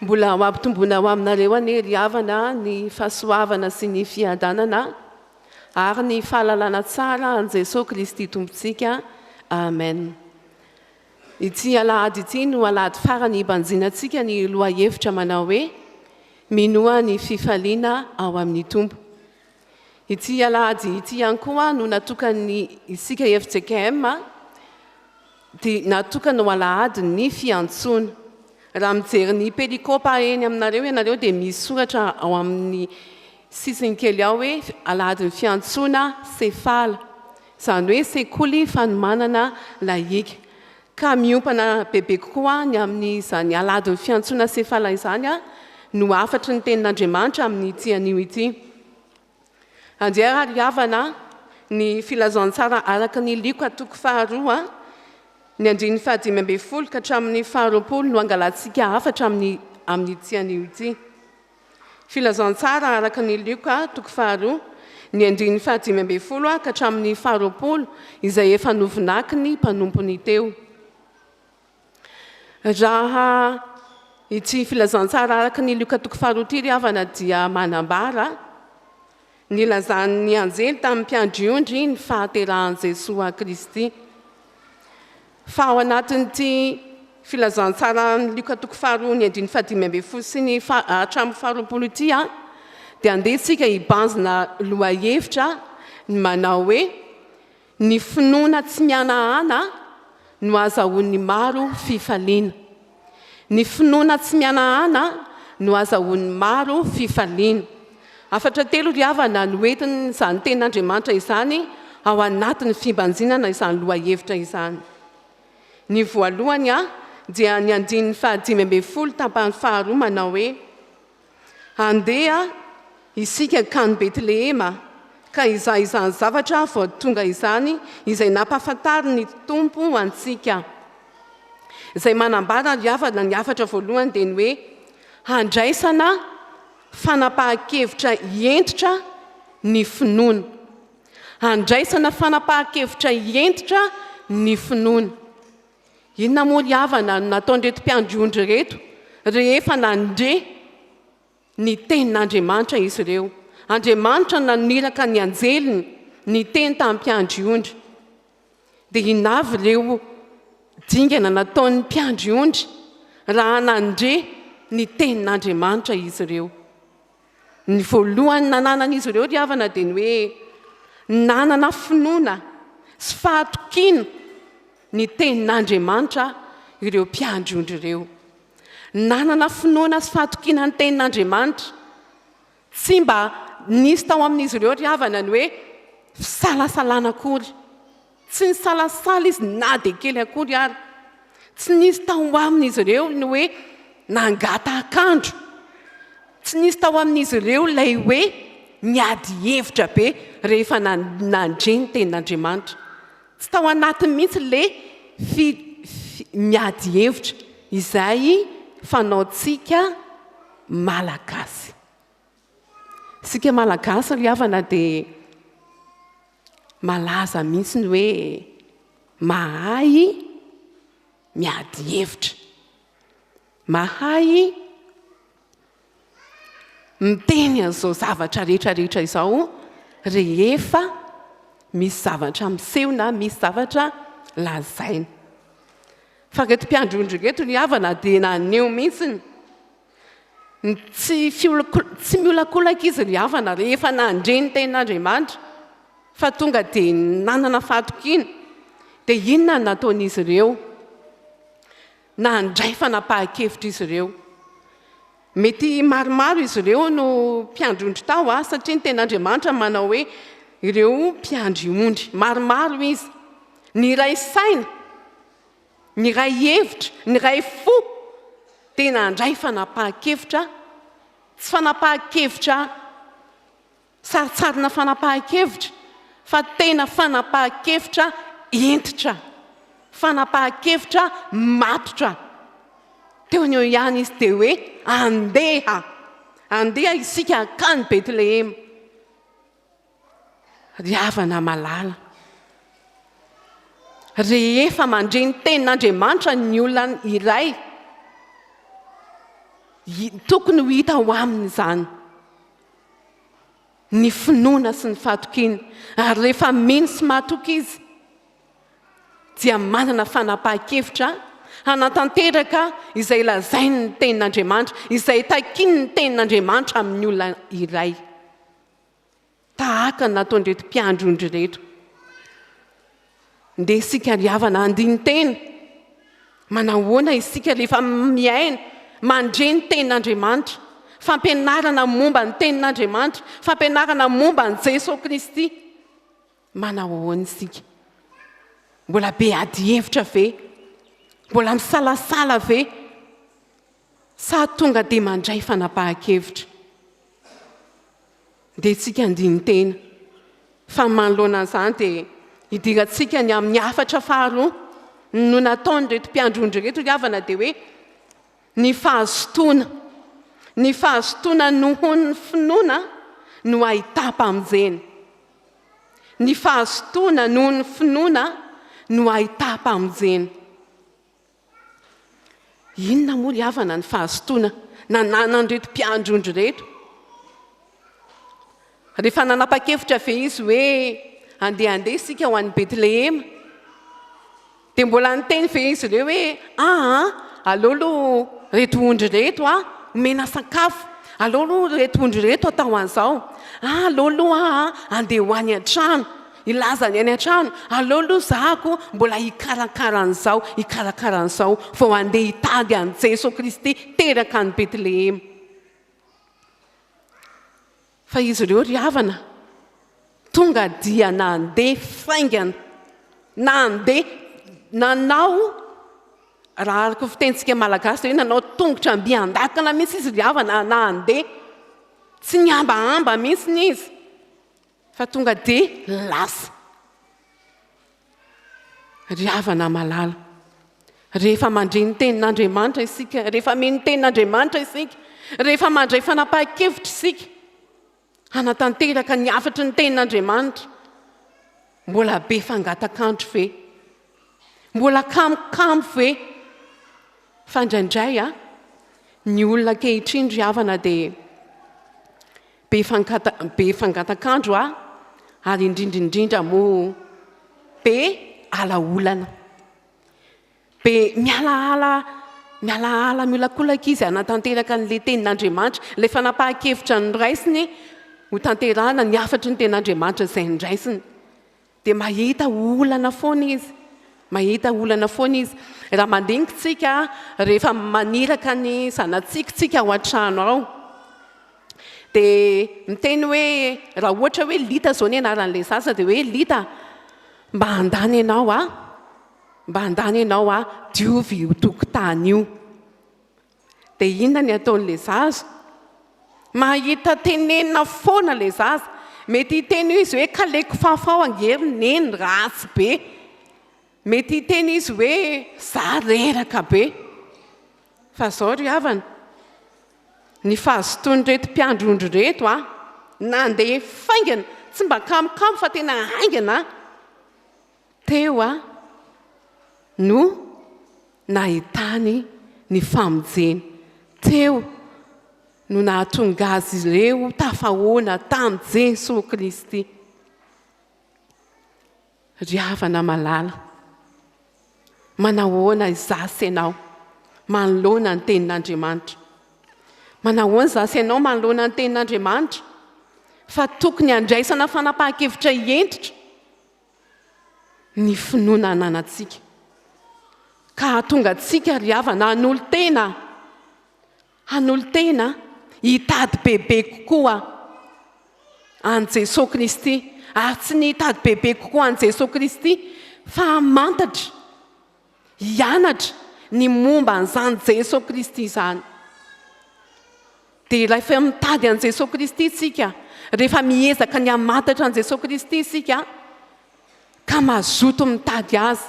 Mbola ho ampitomboina ho aminareo anie ry havana ny fahasoavana sy ny fiadanana ary ny fahalalana tsara an'i Jesoa Kristy Tompontsika. Amen. Ity alahady ity no alahady farany hibanjinantsika ny lohahevitra manao hoe Minoa ny fifaliana ao amin'ny Tompo. Ity alahady ity ihany koa no natokan'ny isika FJKM dia natokana ho alahady ny fiantsoana. Raha mijery ny pelikopa eny aminareo ianareo dia misy soratra ao amin'ny sisiny kely ao hoe alahadin'ny fiantsoana sefala. izany hoe sekoly fanomanana lahiaka, ka miompana bebe kokoa ny amin'izany aladin'ny fiantsoana Sefala izany no hafatry ny Tenin'Andriamanitra amin'ity anio ity. Andeha ary havana ny Filazantsara araka ny Lioka toko faharoa, ny andininy fahadimy ambin'ny folo ka hatramin'ny faharoapolo no hangalantsika hafatra amin'ity anio ity. Filazantsara araka ny Lioka toko faharoa, ny andininy fahadimy ambin'ny folo ka hatramin'ny faharoapolo, izay efa novonakin'ny mpanompony teo. Raha ity filazantsara araka ny Lioka toko faharoa ity ry havana dia manambara, Nilazan'ny anjely tamin'ny mpiandry ondry ny fahaterahan'i Jesoa Kristy. Fa ao anatin'ity filazantsaran'i Lioka toko faharoa ny andininy fahadimy ambin'ny folo sy ny hatramin'ny faharoapolo ity a dia andeha isika hibanjina lohahevitra ny manao hoe Ny finoana tsy mihanahana no ahazahoan'ny maro fifaliana. Ny finoana tsy mihanahana no ahazahoan'ny maro fifaliana. Hafatra telo ry havana no entin'izany tenin'Andriamanitra izany ao anatin'ny fibanjinana izany lohahevitra izany. Ny voalohany dia ny andininy fahadimy ambin'ny folo tapany faharoa manao hoe. Andeha isika hankany Betlehema, ka hizaha izany zavatra vao tonga izany izay nampahafantarin'ny Tompo antsika, izay manambara ry havana ny hafatra voalohany dia ny hoe handraisana fanapahan-kevitra hentitra ny finoana. Handraisana fanapahan-kevitra hentitra ny finoana. Inona moa ry havana no nataon'ireto mpiandry ondry ireto rehefa nandre ny tenin'Andriamanitra izy ireo? Andriamanitra no naniraka ny anjeliny niteny tamin'ny mpiandry ondry. Dia inona avy ireo dingana nataon'ny mpiandry ondry raha nandre ny tenin'Andriamanitra izy ireo? Ny voalohany nananan'izy ireo ry havana dia ny hoe nanana finoana sy fahatokiana ny Tenin'Andriamanitra ireo mpiandry ondry ireo. Nanana finoana sy fahatokiana ny Tenin'Andriamanitra. Tsy mba nisy tao amin'izy ireo ry havana ny hoe fisalasalana akory. Tsy nisalasala izy na dia kely akory ary. Tsy nisy tao amin'izy ireo ny hoe nangatahak'andro. Tsy nisy tao amin'izy ireo ilay hoe niady hevitra be rehefa nandre ny tenin'Andriamanitra. Tsy tao anatiny mihitsy ilay fi, fi, miady hevitra izay fanaontsika Malagasy. Isika Malagasy ry havana dia. Malaza mihitsy ny hoe mahay miady hevitra. Mahay miteny an'izao zavatra rehetrarehetra izao rehefa misy zavatra miseho na misy zavatra lazaina. Fa ireto mpiandry olona ireto ry havana dia naneho mihitsy Tsy tsy miolakolaka izy ry havana rehefa nandre ny tenin'Andriamanitra fa tonga dia nanana fahatokiana. Dia inona no nataon'izy ireo? Nandray fanapahan-kevitra izy ireo. Mety maromaro izy ireo no mpiandry ondry tao ah, satria ny tenin'Andriamanitra manao hoe ireo mpiandry ondry. Maromaro izy. Niray saina Niray hevitra, niray fo, dia nandray fanapahan-kevitra, tsy fanapahan-kevitra sarintsarina fanapahan-kevitra, fa tena fanapahan-kevitra hentitra, fanapahan-kevitra matotra. Teo an'io ihany izy dia hoe, Andeha! Andeha isika hankany Betlehema. Ry havana malala, rehefa mandre ny tenin'Andriamanitra ny olona iray, tokony ho hita ho aminy izany ny finoana sy ny fatokiana. Ary rehefa mino sy matoky izy, dia manana fanapahan-kevitra hanatanteraka izay lazainy ny tenin'Andriamanitra, izay takiany ny tenin'Andriamanitra amin'ny olona iray. tahaka ny nataon'ireto mpiandry ondry ireto. Ndeha isika ry havana handini-tena. Manahoana isika rehefa miaina, mandre ny tenin'Andriamanitra, fampianarana momba ny tenin'Andriamanitra, fampianarana momba an'i Jesoa Kristy. Manao ahoana isika? Mbola be adihevitra ve? Mbola misalasala ve? Sa tonga dia mandray fanapahan-kevitra? Dia tsika andinin-tena fa manoloana an'izany dia hidirantsika ny amin'ny hafatra faharoa no nataon'ireto mpiandrondro ireto ry havana dia hoe ny fahazotoana. Ny fahazotoana nohon'ny finoana no ahitam-pamonjena. Ny fahazotoana noho ny finoana no ahitam-pamonjena. Inona moa ry havana ny fahazotoana nananan'ireto mpiandry ondry ireto? Rehefa nanapa-kevitra ve izy hoe handehandeha isika ho any Betlehema? Dia mbola niteny ve izy ireo hoe, aa, aleo aloha ireto ondry ireto a, omena sakafo, aleo aloha ireto ondry ireto atao an'izao, aa, aleo aloha aho a, andeha ho any an-trano, hilaza ny any an-trano, aleo aloha zahako mbola hikarakara an'izao, hikarakara an'izao, vao handeha hitady an'i Jesoa Kristy teraka any Betlehema. Fa izy ireo ry havana tonga dia nandeha faingana, nandeha, nanao, raha araka ny fitenintsika malagasy dia hoe nanao tongotra mby an-dakana mihitsy izy ry havana nandeha. Tsy nihambahamba mihitsy izy fa tonga dia lasa. Ry havana malala, rehefa mandre ny tenin'Andriamanitra isika, rehefa mino ny tenin'Andriamanitra isika, rehefa mandray fanapahan-kevitra isika hanatanteraka ny hafatry ny tenin'Andriamanitra, mbola be fangatak'andro ve? Mbola kamo kamo ve? Fa indraindray a, ny olona ankehitriny ry havana dia Be fangata be fangatakandro a ary indrindra indrindra moa be ala olana. Be mialaala mialaala miolakolaka izy hanatanteraka an'ilay tenin'Andriamanitra, ilay fanapahan-kevitra noraisiny hotanterahana ny hafatry ny tenin'Andriamanitra izay noraisiny. Dia mahita olana foana izy, mahita olana foana izy. Raha mandinika isika rehefa maniraka ny zanatsika isika ao an-trano ao, dia miteny hoe, raha ohatra hoe Lita izao ny anaran'ilay zaza, dia hoe Lita a, mba handany ianao aho, mba handany ianao aho, diovy io tokotany io. Dia inona ny ataon'ilay zaza? Mahita tenenina foana ilay zaza. Mety hiteny io izy hoe kaleko fafao ange ry neny, ratsy be. Mety hiteny izy hoe za reraka be. Fa izao ry havana, ny fahazotoan'ireto mpiandry ondry ireto an, nandeha faingana, tsy mba kamokamo fa tena haingana an. Teo aho no nahitany ny famojeny. Teo no nahatonga azy ireo tafahoana tamin'i Jesoa Kristy. Ry havana malala, manahoana izaho sy ianao manoloana ny tenin'Andriamanitra? Manahoana izaho sy ianao manoloana ny tenin'Andriamanitra? Fa tokony handraisana fanapahan-kevitra hentitra ny finoana ananantsika, ka hahatonga antsika, ry havana, hanolo-tena, hanolo-tena hitady bebe kokoa an'i Jesoa Kristy, ary tsy ny hitady bebe kokoa an'i Jesoa Kristy, fa hamantatra, hianatra ny momba an'izany Jesoa Kristy izany. Dia rehefa mitady an'i Jesoa Kristy isika, rehefa miezaka ny hamantatra an'i Jesoa Kristy isika, ka mazoto mitady Azy,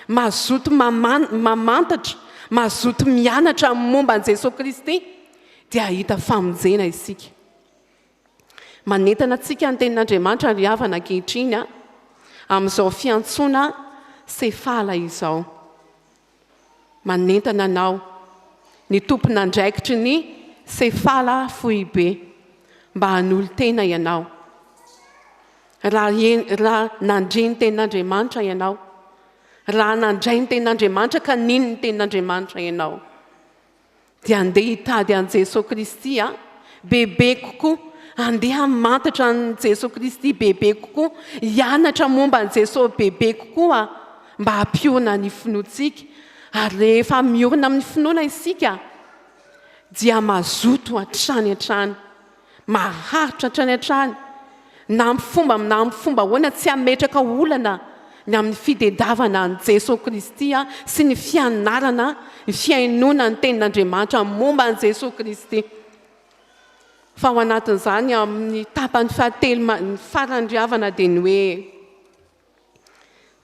mazoto mamantatra, mazoto mianatra momba an'i Jesoa Kristy, dia hahita famonjena isika. Manentana antsika ny tenin'Andriamanitra ry havana ankehitriny a, amin'izao fiantsoana sefala izao. Manentana anao ny tompon'andraikitry ny sefala foibe mba hanolo-tena ianao. Raha, raha nandre ny tenin'Andriamanitra ianao, raha nandray ny tenin'Andriamanitra ka nino ny tenin'Andriamanitra ianao, Dia andeha hitady an'i Jesoa Kristy aho bebe kokoa, andeha hamantatra an'i Jesoa Kristy bebe kokoa, hianatra momba an'i Jesoa bebe kokoa aho mba hampiorina ny finoantsika. Ary rehefa miorina amin'ny finoana isika dia mazoto hatrany hatrany. Maharitra hatrany hatrany na amin'ny fomba na amin'ny fomba ahoana tsy hametraka olana ny amin'ny fitedavana an'i Jesoa Kristy sy ny fianarana ny fihainoana ny tenin'Andriamanitra momba an'i Jesoa Kristy fa ao anatin'izany amin'ny tapany fahatelo faran'ny ry havana dia ny hoe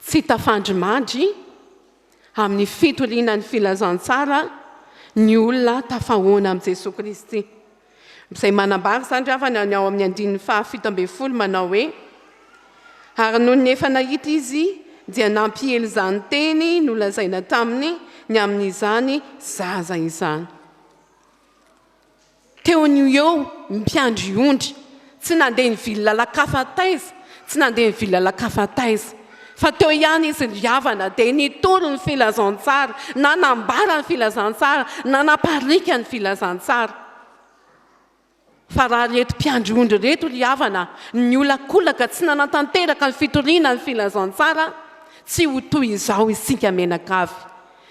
Tsy tafandrimadry amin'ny fitoriana ny filazantsara ny olona tafahoana amin'i Jesoa Kristy. Izay manambara izany ravana ny ao amin'ny andininy fahafito ambin'ny folo manao hoe ary noho ny efa nahita izy dia nampiely izany teny nolazaina taminy ny amin'izany zaza izany. Teo ny ho eo, mpiandry ondry. Tsy nandeha nivily lalan-kafa taiza, tsy nandeha nivily lalan-kafa taiza. Fa teo ihany izy ry havana, dia nitory ny filazantsara, nanambara ny filazantsara, nanapariaka ny filazantsara. Fa raha ireto mpiandry ondry ireto ry havana, niolakolaka, tsy nanatanteraka ny fitoriana ny filazantsara, tsy ho toy izao isika mianakavy.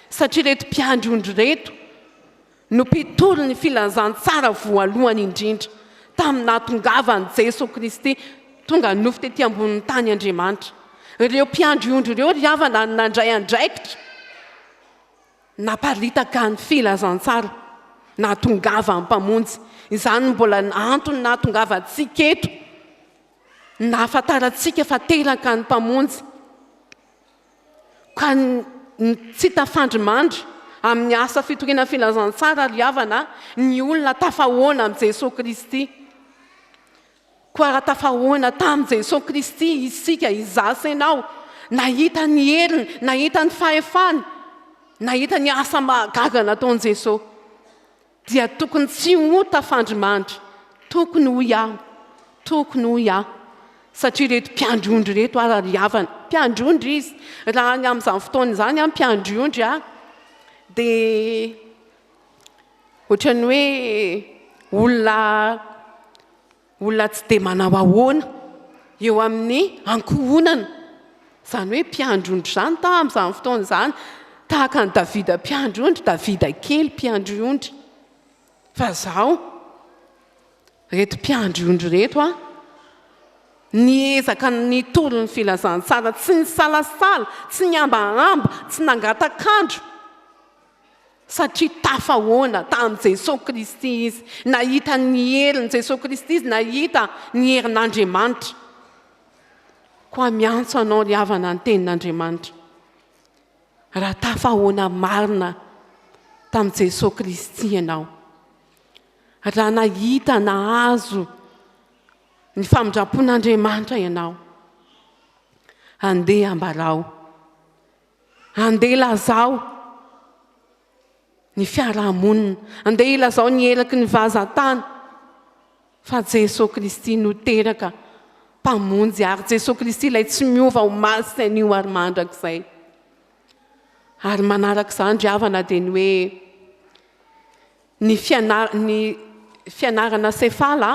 Satria ireto mpiandry ondry ireto, no mpitory ny filazantsara voalohany indrindra tamin'ny nahatongavan'i Jeso Kristy tonga nofo tety ambonin'ny tany Andriamanitra. Ireo mpiandry ondry ireo ry havana no nandray andraikitra naparitaka ny filazantsara nahatongavan'ny Mpamonjy. Izany no mbola antony nahatongavantsika eto, ny nahafantarantsika fa teraka ny Mpamonjy. Ka ny tsy tafandrimandry amin'ny asa fitoriana ny filazantsara ry havana ny olona tafahoana amin'i Jesoa Kristy. Koa raha tafahoana tamin'i Jesoa Kristy isika izaho sy ianao, nahita ny heriny, nahita ny fahefany, nahita ny asa mahagaga nataon'i Jesoa. Dia tokony tsy ho tafandrimandry, tokony hoy aho, tokony hoy aho, satria ireto mpiandry ondry ireto ary ry havana, mpiandry ondry izy, raha ny amin'izany fotoana izany aho mpiandry ondry aho, dia ohatran'ny hoe olona, Olona tsy dia manao ahoana eo amin'ny ankohonana, izany hoe mpiandry ondry izany tamin'izany fotoana izany, tahaka an'i Davida mpiandry ondry, Davida kely mpiandry ondry. Fa izaho, ireto mpiandry ondry ireto aho, niezaka nitory ny filazantsara, tsy nisalasala, tsy nihambahamba, tsy nangatak'andro, Satria tafahoana tamin'i Jesoa Kristy izy. Nahita ny herin'i Jesoa Kristy izy, nahita ny herin'Andriamanitra. Koa miantso anao ry havana ny tenin'Andriamanitra. Raha tafahoana marina tamin'i Jesoa Kristy ianao, raha nahita nahazo ny famindram-pon'Andriamanitra ianao, andeha ambarao Andeha ilazao ny fiaraha-monina. Andeha ilazao ny eraky ny vazan-tany fa Jesoa Kristy no teraka Mpamonjy ary Jesoa Kristy ilay tsy miova ho masy anio ary mandrakizay. Ary manaraka izany ry havana dia ny hoe ny, fianar, ny fianarana sefala,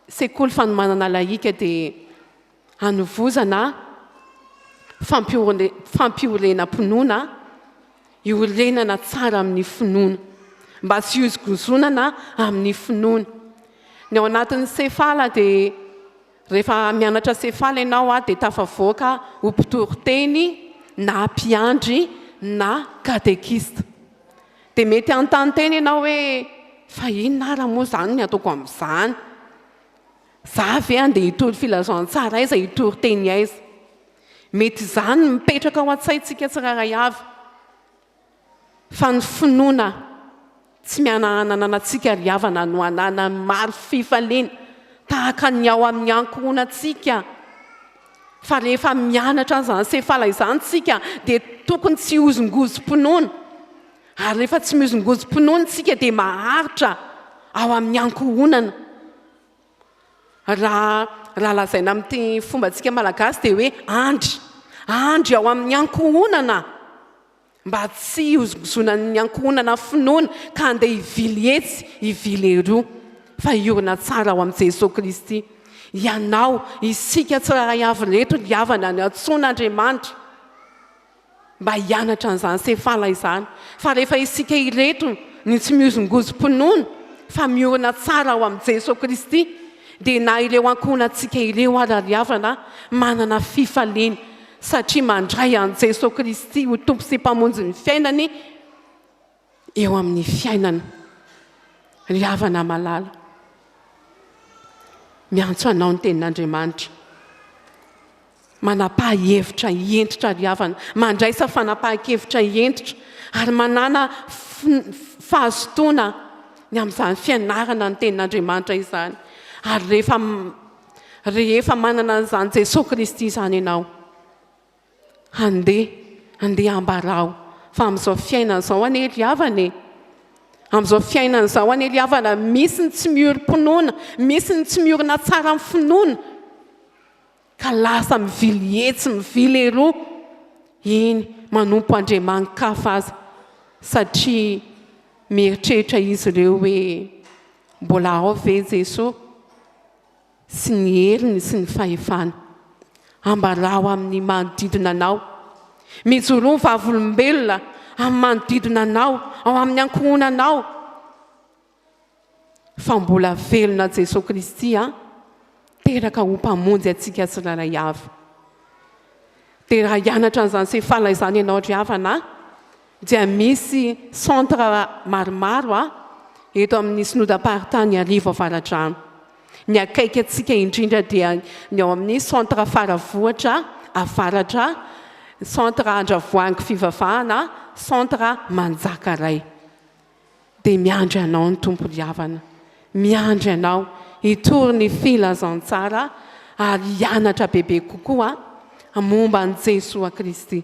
sekoly fanomanana lahika dia hanovozana fampihorenam-pinoana iorenana tsara amin'ny finoana, mba tsy hihozongozonana amin'ny finoana. Ny ao anatin'ny sefala dia rehefa mianatra sefala ianao a dia tafavoaka ho mpitory teny na mpiandry na katekista. Dia mety hanontany tena ianao hoe fa inona ara moa izany ny ataoko amin'izany? Za ve andeha hitory filazantsara aiza hitory teny aiza? Mety izany ny mipetraka ao an-tsaintsika tsirairay avy fa ny finoana tsy mihanahana ananantsika ry havana no ananan'ny maro fifaliana tahaka ny ao amin'ny ankohonantsika fa rehefa mianatra an'izany sefala izany tsika dia tokony tsy hozongozom-pinoana ary rehefa tsy mihozongozom-pinoana tsika dia maharitra ao amin'ny ankohonana Raha raha lazaina amin'ity fombantsika malagasy dia hoe andry. Andry ao amin'ny ankohonana mba tsy hihozongozonan'ny ankohonana finoana ka handeha hivily etsy hivily eroa fa hiorina tsara ao amin'i Jesoa Kristy. Ianao, isika tsirairay avy ireto ry havana niantsoana Andriamanitra. mba hianatra an'izany sefala izany fa rehefa isika ireto no tsy mihozongozom-pinoana fa miorina tsara ao amin'i Jesoa Kristy dia na ireo ankohonantsika ireo ara ry havana manana fifaliana satria mandray an'i Jesoa Kristy ho Tompo sy Mpamonjy ny fiainany eo amin'ny fiainana ry havana malala miantso anao ny tenin'Andriamanitra manam-pahihevitra hentitra ry havana mandraisa fanapahan-kevitra hentitra ary manana fahazotoana ny amin'izany fianarana ny tenin'Andriamanitra izany ary rehefa rehefa manana an'izany Jesoa Kristy izany ianao Handeha, handeha ambarao fa amin'izao fiainana izao anie ry havana e, amin'izao fiainana izao anie ry havana misy ny tsy miorim-pinoana, misy ny tsy miorina tsara amin'ny finoana ka lasa mivily etsy mivily eroa, eny manompo andriamani-kafa aza satria mieritreritra izy ireo hoe mbola ao ve Jesoa? sy ny heriny sy ny fahefany. Ambarao amin' ny manodidina anao. Mijoroa ho vavolombelona amin' ny manodidina anao, ao amin' ny ankohonanao, fa mbola velona Jesoa Kristy an, teraka ho Mpamonjy antsika tsirairay avy. Dia raha hianatra an' izany sefala izany ianao ry havana an, dia misy centre maromaro a eto amin'ny synodam-paritany Iarivo Avaradrano. Ny akaiky antsika indrindra dia ny ao amin'ny centre Faravohitra Avaratra, centre Andravoahangy Fivavahana, centre Manjakaray. Dia miandry anao ny Tompo ry havana, miandry anao hitory ny filazantsara ary hianatra bebe kokoa momba an'i Jesoa Kristy.